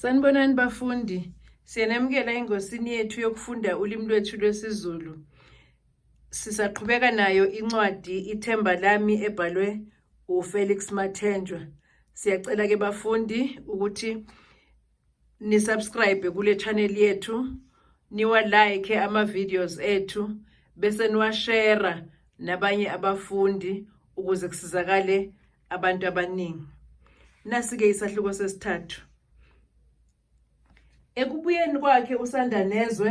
Sanibonani bafundi, siyenemukela engosini yethu yokufunda ulimi lwethu lwesiZulu. Sisaqhubeka nayo incwadi Ithemba lami ebhalwe uFelix Mathenjwa. Siyacela ke bafundi ukuthi ni subscribe kule channel yethu, niwa like ama videos ethu bese niwashare nabanye abafundi ukuze kusizakale abantu abaningi nasike isahluko sesithathu ekubuyeni kwakhe usandanezwe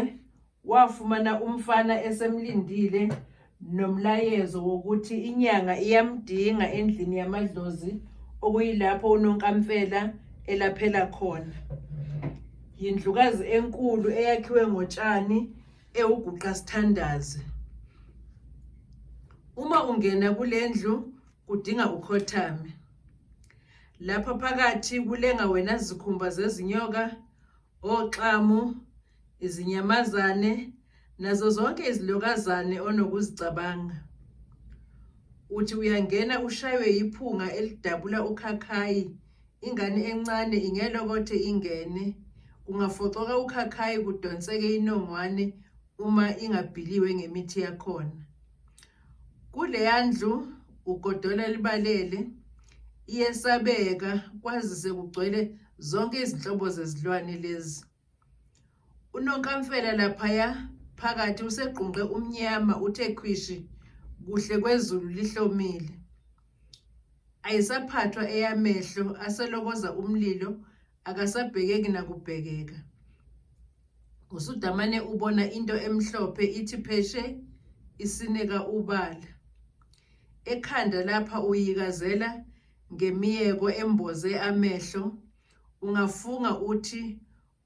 wafumana umfana esemlindile nomlayezo wokuthi inyanga iyamdinga endlini yamadlozi okuyilapho unonkamfela elaphela khona yindlukazi enkulu eyakhiwe ngotshani ewuguqa sithandazi uma ungena kule ndlu kudinga ukhothame lapha phakathi kulenga wena zikhumba zezinyoka oxamu izinyamazane nazo zonke izilokazane onokuzicabanga uthi uyangena ushaywe yiphunga elidabula ukhakhayi ingane encane ingelokothe ingene kungafocoka ukhakhayi kudonseke inongwane uma ingabhiliwe ngemithi yakhona Kuleya ndlu ugodola libalele iyesabeka kwazise kugcwele zonke izinhlobo zezilwane lezi. Unonkamfela laphaya phakathi usegqunqe umnyama uthe khwishi kuhle kwezulu lihlomile. Ayisaphathwa eyamehlo aselokoza umlilo akasabhekeki nakubhekeka usudamane ubona into emhlophe ithi pheshe isinika ubala ekhanda lapha uyikazela ngemiyeko emboze amehlo ungafunga uthi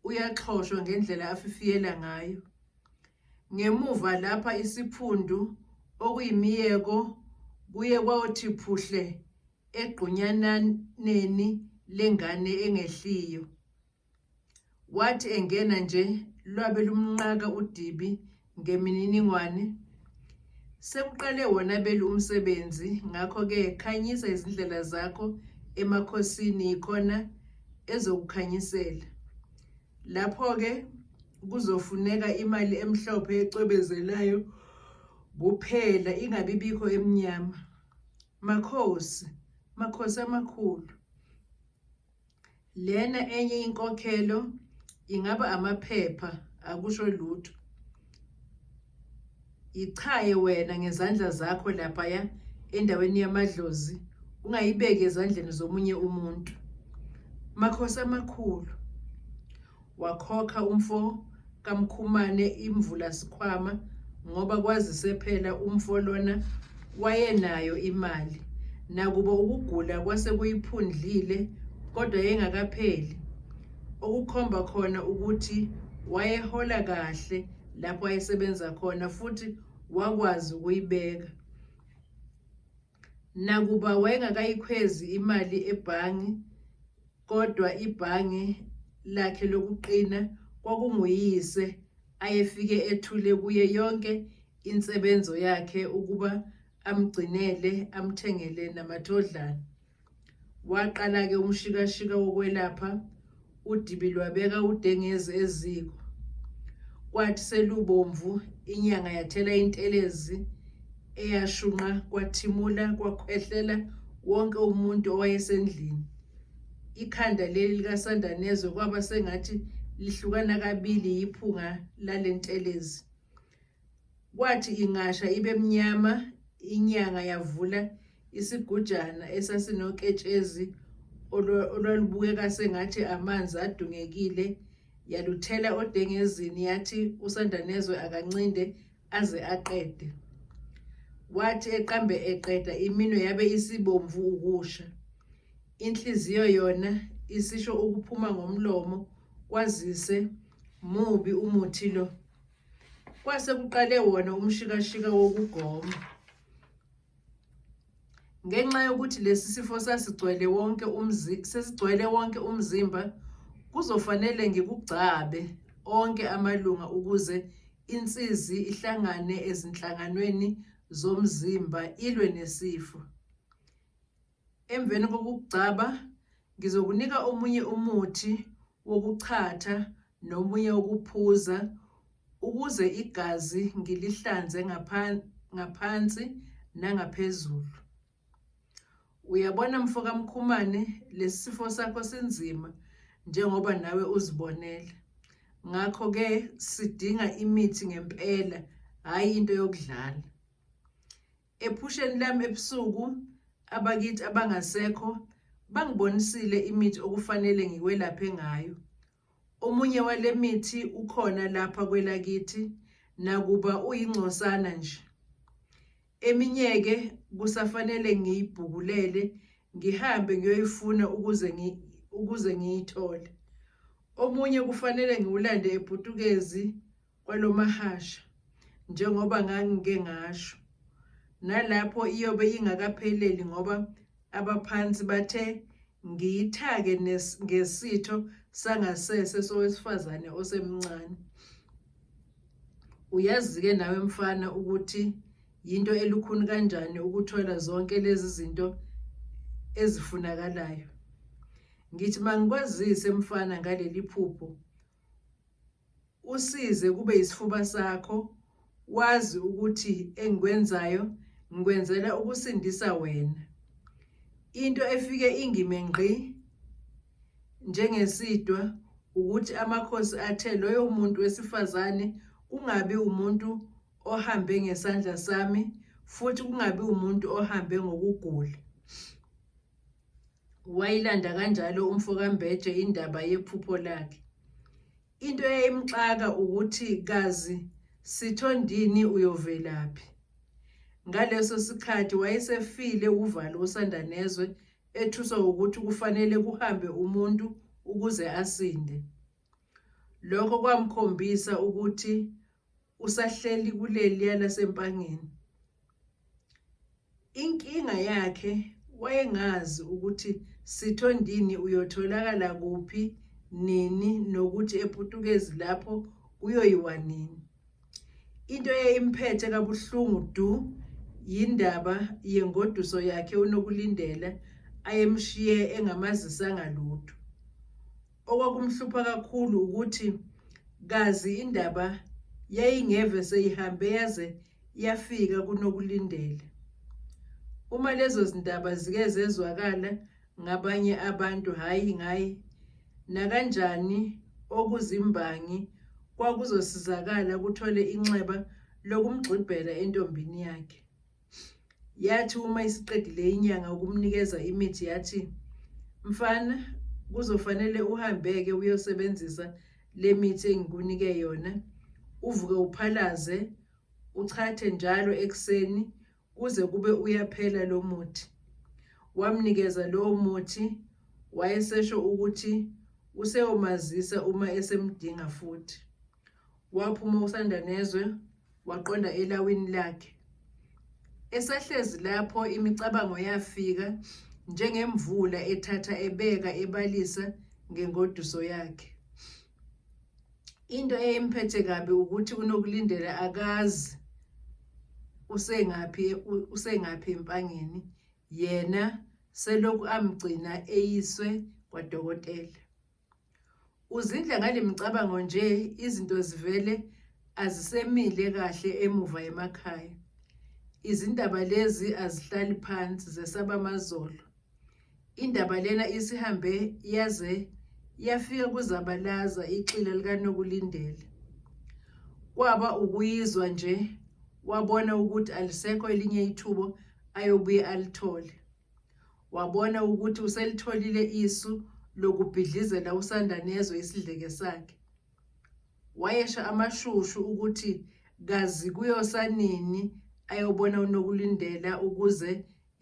uyaxhoshwa ngendlela afifiyela ngayo ngemuva lapha isiphundu okuyimiyeko kuye kwawothi phuhle egqunyananeni lengane engehliyo. Wathi engena nje lwabe lumnqaka udibi ngemininingwane. Sekuqale wona belu umsebenzi ngakho-ke khanyisa izindlela zakho emakhosini yikhona ezokukhanyisela. Lapho-ke kuzofuneka imali emhlophe ecwebezelayo kuphela ingabibikho emnyama. Makhosi, Makhosi amakhulu. Lena enye inkokhelo ingaba amaphepha akusho lutho. Yichaye wena ngezandla zakho laphaya endaweni yamadlozi ungayibeki ezandleni zomunye umuntu. Makhosi amakhulu. Wakhokha umfo kaMkhumane imvula sikhwama ngoba kwazise phela umfo lona wayenayo imali nakuba ukugula kwase kuyiphundlile kodwa yengakapheli okukhomba khona ukuthi wayehola kahle lapho ayesebenza khona futhi wakwazi ukuyibeka Nakuba wayengakayikhwezi imali ebhange kodwa ibhange lakhe lokuqina kwakunguyise ayefike ethule kuye yonke insebenzo yakhe ukuba amgcinele amthengele namathodlana. Waqala-ke umshikashika wokwelapha udibi lwabeka udengezi eziko. Kwathi selubomvu inyanga yathela intelezi eyashunqa kwathimula kwakhwehlela wonke umuntu owayesendlini. Ikhanda leli likaSandanezwe kwaba sengathi lihlukana kabili yiphunga lalentelezi. Kwathi ingasha ibe mnyama, inyanga yavula isigujana esasinoketshezi olwalubukeka sengathi amanzi adungekile yaluthela odengezini yathi usandanezwe akancinde aze aqede wathi eqambe eqeda iminwe yabe isibomvu ukusha inhliziyo yona isisho ukuphuma ngomlomo kwazise mubi umuthi lo Kwase kuqale wona umshikashika wokugoma. Ngenxa yokuthi lesi sifo sasigcwele wonke umzi sesigcwele wonke umzimba kuzofanele ngikugcabe onke amalunga ukuze insizi ihlangane ezinhlanganweni zomzimba ilwe nesifo. Emveni kokugcaba, ngizokunika omunye umuthi wokuchatha nomunye wokuphuza ukuze igazi ngilihlanze ngaphansi nangaphezulu. Uyabona mfokaMkhumane lesi sifo sakho sinzima njengoba nawe uzibonela. Ngakho-ke sidinga imithi ngempela, hhayi into yokudlala. Ephusheni lami ebusuku abakithi abangasekho bangibonisile imithi okufanele ngikwelaphe ngayo. Omunye wale mithi ukhona lapha kwelakithi nakuba uyingcosana nje. Eminyeke kusafanele ngiyibhukulele ngihambe ngiyoyifuna ukuze ngi ukuze ngiyithole. Omunye kufanele ngiwulande ePutukezi kwalomahasha njengoba ngangike ngasho nalapho iyobe ingakapheleli ngoba abaphansi bathe ngiyithake ngesitho sangasese sowesifazane osemncane uyazi-ke nawe mfana ukuthi yinto elukhuni kanjani ukuthola zonke lezi zinto ezifunakalayo ngithi mangikwazise mfana ngaleli phupho usize kube yisifuba sakho wazi ukuthi engikwenzayo ngikwenzela ukusindisa wena into efike ingime ngqi njengesidwa ukuthi amakhosi athe loyo muntu wesifazane kungabi umuntu ohambe ngesandla sami futhi kungabi umuntu ohambe ngokugula wayilanda kanjalo umfokambeje indaba yephupho lakhe into eyayimxaka ukuthi kazi sithondini uyovelaphi ngaleso sikhathi wayesefile uvalo usanda nezwe ethuswa ukuthi kufanele kuhambe umuntu ukuze asinde Lokho kwamkhombisa ukuthi usahleli kuleliya laseMpangeni. Inkinga yakhe wayengazi ukuthi Sithondini uyotholakala kuphi nini nokuthi ePutukezi lapho uyoyiwa nini. Into eyayimphethe kabuhlungu du yindaba yengoduso yakhe uNokulindela ayemshiye engamazisanga lutho. Okwakumhlupha kakhulu ukuthi kazi indaba yayingeve seyihambe yaze yafika kunokulindele. Uma lezo zindaba zike zezwakala ngabanye abantu hhayi ngayi nakanjani okuzimbangi kwakuzosizakala kuthole inxeba lokumgxibhela entombini yakhe. yathi uma isiqedile inyanga ukumnikeza imithi yathi mfana kuzofanele uhambeke uyosebenzisa le mithi engikunike yona uvuke uphalaze uchathe njalo ekuseni kuze kube uyaphela lo muthi wamnikeza lowo muthi wayesesho ukuthi useyomazisa uma esemdinga futhi Waphuma usanda nezwe waqonda elawini lakhe. Esahlezi lapho imicabango yafika njengemvula ethatha ebeka ebalisa ngengoduso yakhe. Into eyimphethe kabi ukuthi unokulindela akazi usengaphi usengaphi empangeni yena selokhu amgcina eyiswe kwadokotela. Uzindla ngale micabango nje izinto zivele azisemile kahle emuva emakhaya. Izindaba lezi azihlali phansi zesaba amazolo. Indaba lena isihambe yaze yafika kuzabalaza ixila likanokulindela. Kwaba ukuyizwa nje wabona ukuthi alisekho elinye ithubo ayobuye alithole. Wabona ukuthi uselitholile isu lokubhidlizela usanda nezwe isidleke sakhe. Wayesha amashushu ukuthi kazi kuyosanini ayobona uNokulindela ukuze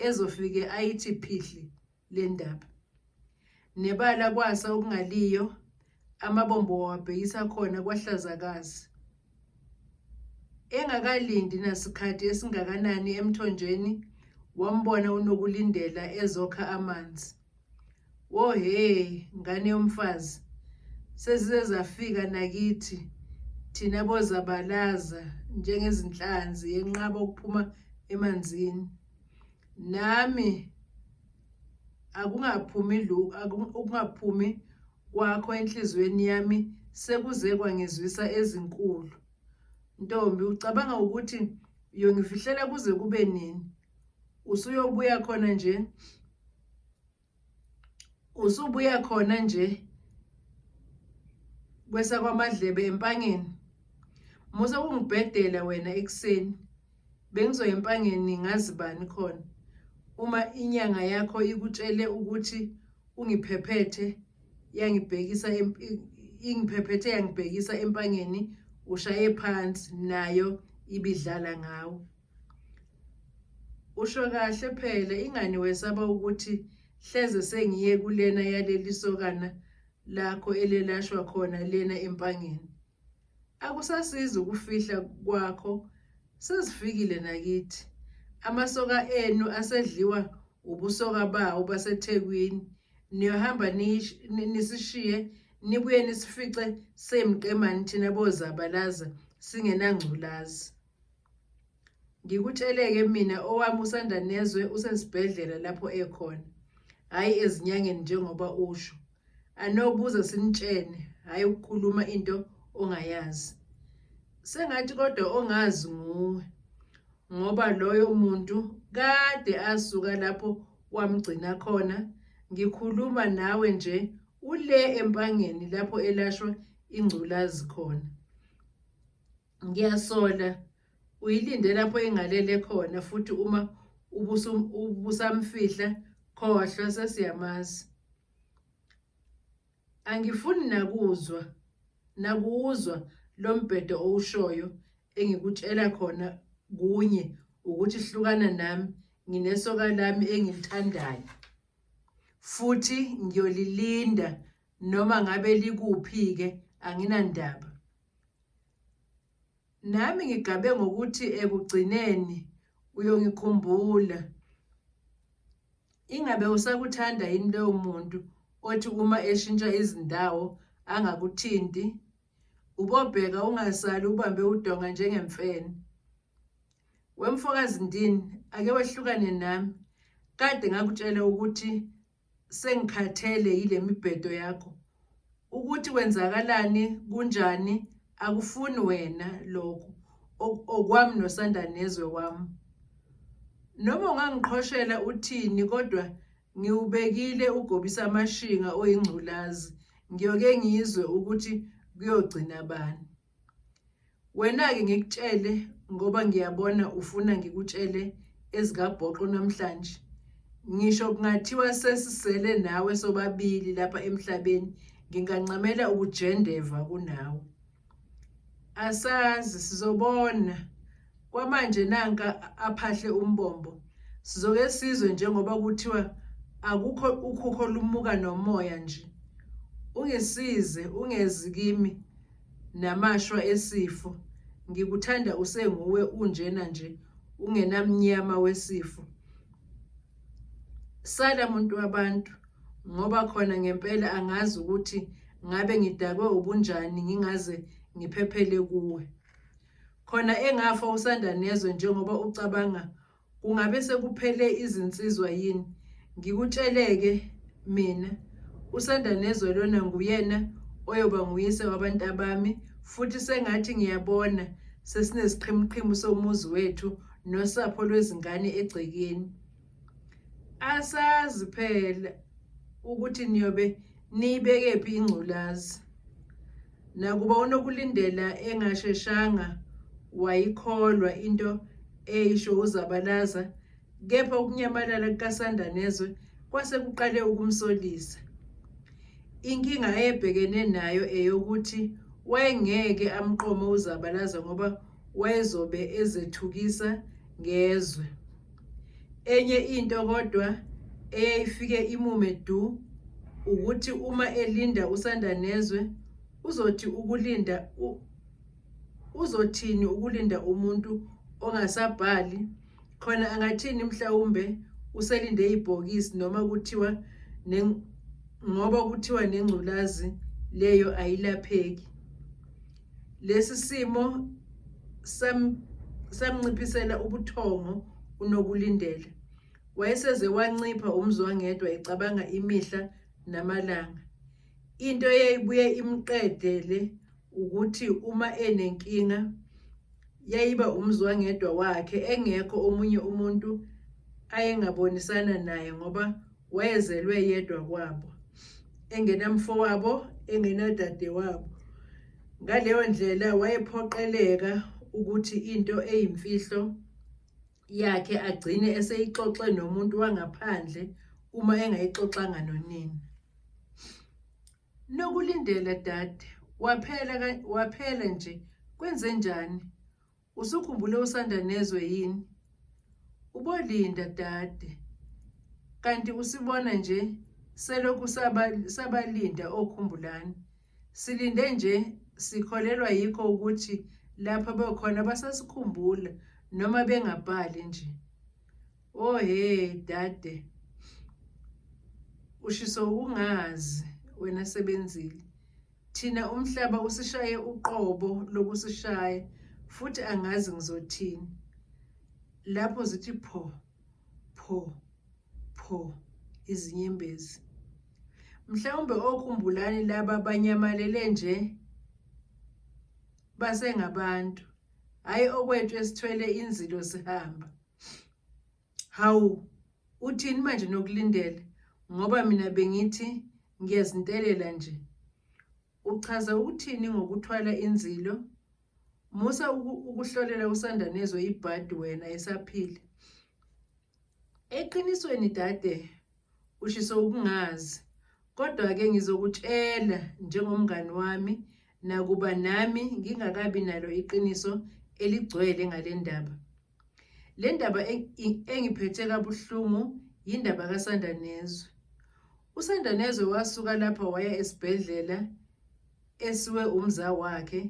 ezofike ayithi phihli le ndaba. Nebala kwasa okungaliyo, amabombo wawabhekisa khona kwaHlazakazi. Engakalindi nasikhathi esingakanani emthonjeni, wambona uNokulindela ezokha amanzi. Wo he, ngane yomfazi, sezize zafika nakithi thina bozabalaza njengezinhlanzi yenqaba ukuphuma emanzini. nami akungaphumi ukungaphumi kwakho enhliziyweni yami sekuze kwangizwisa ezinkulu ntombi ucabanga ukuthi uyongifihlela kuze kube nini usuyobuya khona nje usubuya khona nje kwesakwamadlebe empangeni musa kungibhedela wena ekuseni bengizoya empangeni ngazi bani khona uma inyanga yakho ikutshele ukuthi ungiphephethe yangibhekisa ingiphephethe yangibhekisa empangeni ushaye phansi nayo ibidlala ngawo Usho kahle phela ingani wesaba ukuthi hleze sengiye kulena yaleli sokana lakho elelashwa khona lena empangeni. Akusasizi ukufihla kwakho sezifikile nakithi. Amasoka enu asedliwa ubusoka bawo baseThekwini. Niyohamba nisishiye nibuye nisifice semqemani thina bozabalaza singenangculazi. Ngikutsheleke mina owami usanda nezwe usesibhedlela lapho ekhona. Hayi ezinyangeni njengoba usho. Anobuza sinitshene, hayi ukukhuluma into ongayazi. Sengathi kodwa ongazi nguwe. Ngoba loyo muntu kade asuka lapho wamgcina khona. Ngikhuluma nawe nje ule empangeni lapho elashwa ingculazi khona. ngiyasola uyilinde lapho engalele khona futhi uma ubusamfihla khohlwa sesiyamazi angifuni nakuzwa nakuwuzwa lo mbhedo owushoyo engikutshela khona kunye ukuthi hlukana nami nginesoka lami engilithandayo futhi ngiyolilinda noma ngabe likuphi-ke anginandaba Nami ngigabe ngokuthi ekugcineni uyongikhumbula. Ingabe usakuthanda yini lowo muntu othi uma eshintsha izindawo angakuthinti? Ubobheka ungasali ubambe udonga njengemfene. Wemfokazi ndini ake wehlukane nami. Kade ngakutshela ukuthi sengikhathele yile mibhedo yakho ukuthi kwenzakalani kunjani akufuni wena lokho okwami nosanda nezwe wami noma ungangiqhoshela uthini kodwa ngiwubekile ugobisa amashinga oyingculazi ngiyoke ngizwe ukuthi kuyogcina bani Wena-ke ngikutshele ngoba ngiyabona ufuna ngikutshele ezikabhoqo namhlanje. Ngisho kungathiwa sesisele nawe sobabili lapha emhlabeni ngingancamela ukujendeva kunawe. Asazi sizobona. Kwamanje nanka aphahle umbombo. Sizoke sizwe njengoba kuthiwa akukho ukhukho lumuka nomoya nje. Ungisize ungezi kimi. namashwa esifo ngikuthanda usenguwe unjena nje ungenamnyama wesifo sala muntu wabantu ngoba khona ngempela angazi ukuthi ngabe ngidakwe ubunjani ngingaze ngiphephele kuwe khona engafa usanda nezwe njengoba ucabanga Kungabe sekuphele izinsizwa yini? Ngikutsheleke mina usanda nezwe lona nguyena oyoba nguyise wabantu abami futhi sengathi ngiyabona sesinesiqhimuqhimu somuzi wethu nosapho lwezingane egcekeni asazi phela ukuthi niyobe Niyibekephi ingculazi? Nakuba uNokulindela engasheshanga wayikholwa into eyisho uZabalaza, kepha ukunyamalala kukaSandanezwe kwase kuqale ukumsolisa. Inkinga ayebhekene nayo eyokuthi wayengeke amqome uZabalaza ngoba wayezobe ezethukisa ngezwe. Enye into kodwa eyayifike imume du ukuthi uma elinda usanda nezwe uzothi ukulinda uzothini ukulinda umuntu ongasabhali khona angathini mhlawumbe uselinde ibhokisi noma kuthiwa ngoba kuthiwa nengculazi leyo ayilapheki Lesi simo samnciphisela ubuthongo uNokulindela. Wayeseze wancipha umzwangedwa ecabanga imihla namalanga. Into eyayibuye imqedele ukuthi uma enenkinga yayiba umzwangedwa wakhe engekho omunye umuntu ayengabonisana naye ngoba wayezelwe yedwa kwabo engenamfowabo engenadadewabo ngaleyo ndlela wayephoqeleka ukuthi into eyimfihlo yakhe agcine eseyixoxe nomuntu wangaphandle uma engayixoxanga nonina nokulindela dade waphela waphela nje kwenze njani Usukhumbule usanda nezwe yini? Ubolinda dade. Kanti usibona nje selokhu sabalinda okhumbulani. Silinde nje sikholelwa yikho ukuthi lapha bekhona basasikhumbula noma bengabhali nje. Oh he dade. Ushiso ungazi wena sebenzile. Thina umhlaba usishaye uqobo lokusishaya futhi angazi ngizothini. Lapho zithi pho pho pho izinyembezi. Mhlawumbe okhumbulani laba banyamalele nje basengabantu hayi okwethu esithwele inzilo sihamba Hawu, uthini manje nokulindele ngoba mina bengithi ngiyazintelela nje. Uchaza ukuthini ngokuthwala inzilo? Musa ukuhlolela uSandanezwe ibhadi wena esaphila. Eqinisweni dade Ushiso ukungazi. Kodwa ke ngizokutshela njengomngani wami nakuba nami ngingakabi nalo iqiniso eligcwele ngalendaba. Lendaba engiphethe kabuhlungu yindaba kaSandanezwe. USandanezwe wasuka lapha waya esibhedlela esiwe umza wakhe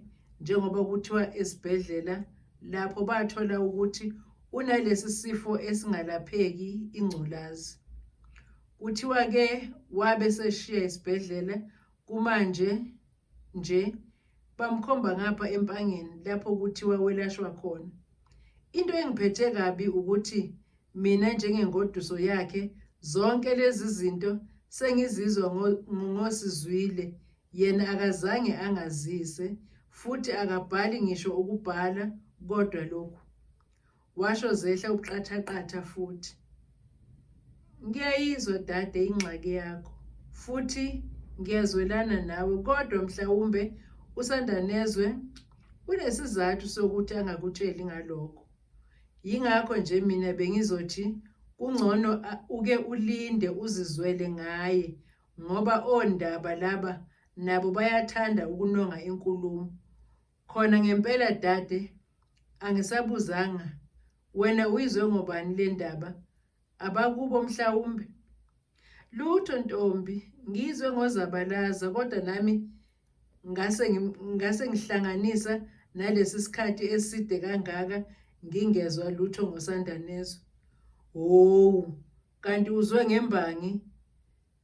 njengoba kuthiwa esibhedlela lapho bathola ukuthi unalesi sifo esingalapheki ingculazi. Kuthiwa ke wabe seshiya isibhedlela kumanje nje bamkhomba ngapha empangeni lapho kuthiwa welashwa khona. Into engiphethe kabi ukuthi Mina njengengoduso yakhe zonke lezi zinto sengizizwa ngosizwile yena akazange angazise futhi akabhali ngisho ukubhala kodwa lokhu washo zehla ubuqathaqatha futhi ngiyayizwa dade ingxaki yakho futhi ngiyazwelana nawe kodwa mhlawumbe usandanezwe kunesizathu sokuthi angakutsheli ngalokho Yingakho nje mina bengizothi kungcono uke ulinde uzizwele ngaye ngoba ondaba laba nabo bayathanda ukunonga inkulumo. Khona ngempela dade angisabuzanga wena uyizwe ngobani le ndaba abakubo mhlawumbe lutho ntombi ngizwe ngozabalaza kodwa nami ngase ngase ngihlanganisa nalesi sikhathi eside kangaka ngingezwa lutho ngosandanezwe howu kanti uzwe ngembangi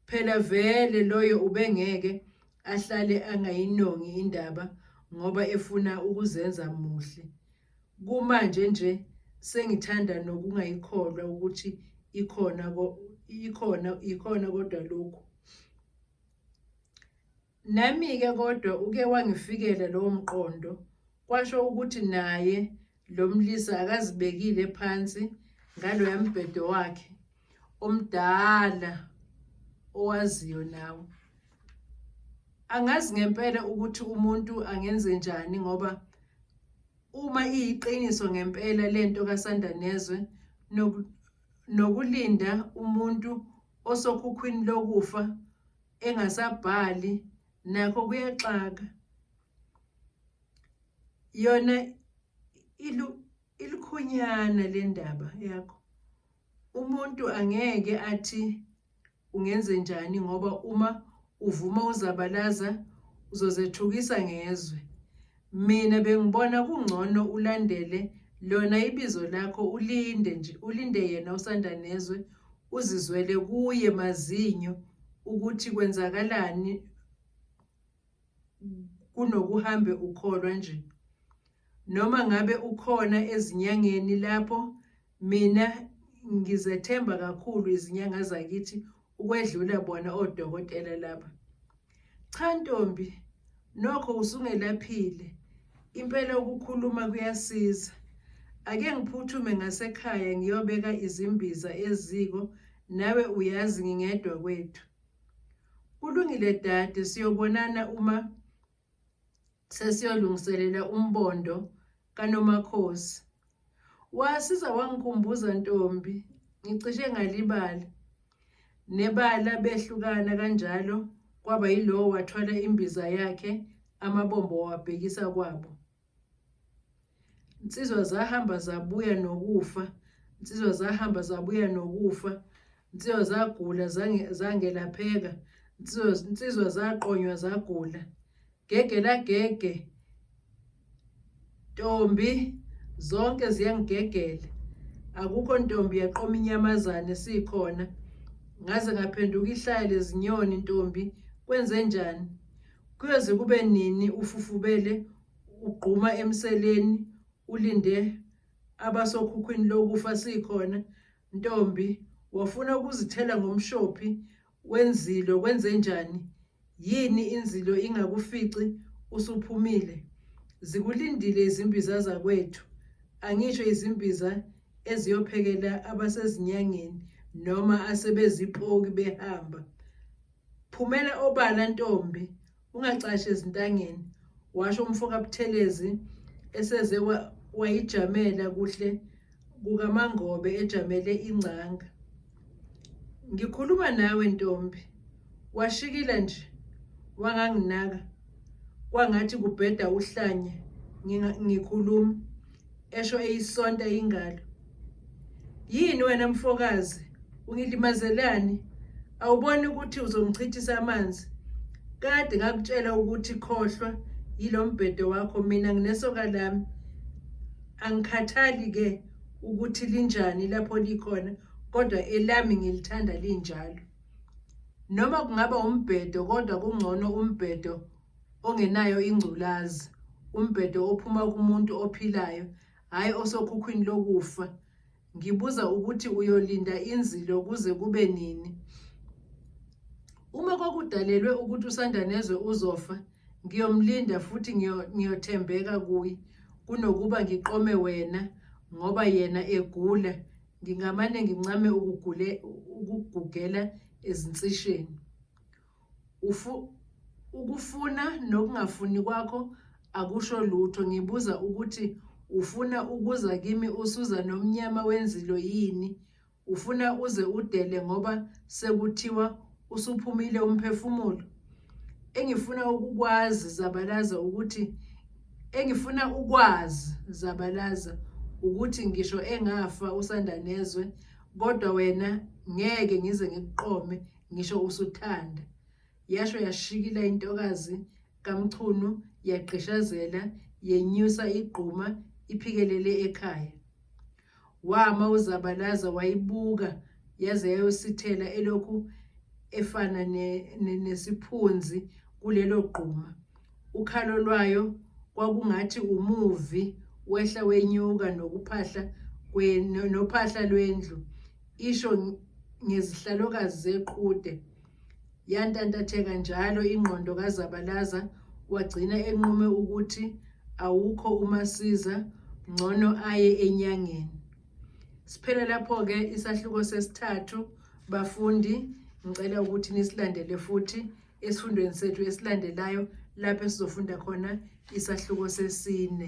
Phela vele loyo ubengeke ahlale angayinongi indaba ngoba efuna ukuzenza muhle. Kumanje nje sengithanda nokungayikholwa ukuthi ikhona ikhona ikhona kodwa lokhu. Nami-ke kodwa uke wangifikela lowo mqondo, kwasho ukuthi naye lo mlisa akazibekile phansi ngaloya mbhedo wakhe omdala owaziyo nawe. Angazi ngempela ukuthi umuntu angenze njani ngoba uma iyiqiniso ngempela lento kaSandanezwe nokulinda umuntu osokhukhwini lokufa engasabhali nakho kuyaxaka yona ilu ilikhunyana lendaba yakho umuntu angeke athi ungenze njani ngoba uma uvuma uzabalaza uzozethukisa ngezwe Mina bengibona kungcono ulandele lona ibizo lakho ulinde nje ulinde yena usanda nezwe uzizwele kuye mazinyo ukuthi kwenzakalani kunokuhambe ukholwa nje noma ngabe ukhona ezinyangeni lapho Mina ngizethemba kakhulu izinyanga zakithi ukwedlula bona odokotela laba. Cha ntombi, nokho usungelaphile. Impela ukukhuluma kuyasiza. Ake ngiphuthume ngasekhaya ngiyobeka izimbiza eziko, nawe uyazi ngingedwa kwethu. Kulungile dade, siyobonana uma sesiyolungiselela umbondo kanomakhosi wasiza wangikhumbuza ntombi ngicishe ngalibala nebala behlukana kanjalo kwaba yilowo wathwala imbiza yakhe amabombo wabhekisa kwabo Insizwa zahamba zabuya nokufa. Insizwa zahamba zabuya nokufa. Insizwa zagula zangelapheka. Insizwa zaqonywa zagula. Gege lagege. Ntombi zonke ziyangigegela. Akukho ntombi yaqoma inyamazane sikhona. Ngaze ngaphenduka ihlaya lezinyoni ntombi kwenze njani? Kuyoze kube nini ufufubele ugquma emseleni ulinde abasokhukhwini lokufa sikhona ntombi wafuna ukuzithela ngomshophi wenzilo kwenzenjani yini inzilo ingakufici usuphumile zikulindile izimbiza zakwethu angisho izimbiza eziyophekela abasezinyangeni noma asebezipoki behamba phumela obala ntombi ungacashi ezintangeni washo umfo kabuthelezi eseze wayijamela kuhle kukamangobe ejamele ingcanga ngikhuluma nawe ntombi washikila nje wanganginaka kwangathi kubheda uhlanye ngikhuluma esho eyisonta ingalo yini wena mfokazi ungilimazelani awuboni ukuthi uzongichithisa amanzi kade ngakutshela ukuthi khohlwa yilo mbhedo wakho mina nginesoka lami angikhathali ke ukuthi linjani lapho likhona kodwa elami ngilithanda linjalo noma kungaba umbhedo kodwa kungcono umbhedo ongenayo ingculazi umbhedo ophuma kumuntu ophilayo hhayi osokhukhwini lokufa ngibuza ukuthi uyolinda inzilo kuze kube nini uma kwakudalelwe ukuthi usandanezwe uzofa ngiyomlinda futhi ngiyothembeka kuye kunokuba ngiqome wena ngoba yena egula ngingamane ngincame ukugule ukugugela ezinsisheni Ufu, ukufuna nokungafuni kwakho akusho lutho. Ngibuza ukuthi ufuna ukuza kimi usuza nomnyama wenzilo yini? Ufuna uze udele ngoba sekuthiwa usuphumile umphefumulo? Engifuna ukukwazi Zabalaza ukuthi engifuna ukwazi Zabalaza ukuthi ngisho engafa usanda nezwe kodwa wena ngeke ngize ngikuqome ngisho usuthanda yasho yashikila intokazi kamchunu yagqishazela yenyusa igquma iphikelele ekhaya wama uzabalaza wayibuka yaze yayosithela elokhu efana nesiphunzi ne, ne kulelo gquma ukhalo lwayo kwakungathi umuvi wehla wenyuka nokuphahla nophahla lwendlu isho ngezihlalokazi zequde yantantatheka njalo ingqondo kazabalaza wagcina enqume ukuthi awukho umasiza ngcono aye enyangeni siphele lapho-ke isahluko sesithathu bafundi ngicela ukuthi nisilandele futhi esifundweni sethu esilandelayo lapho esizofunda khona isahluko sesine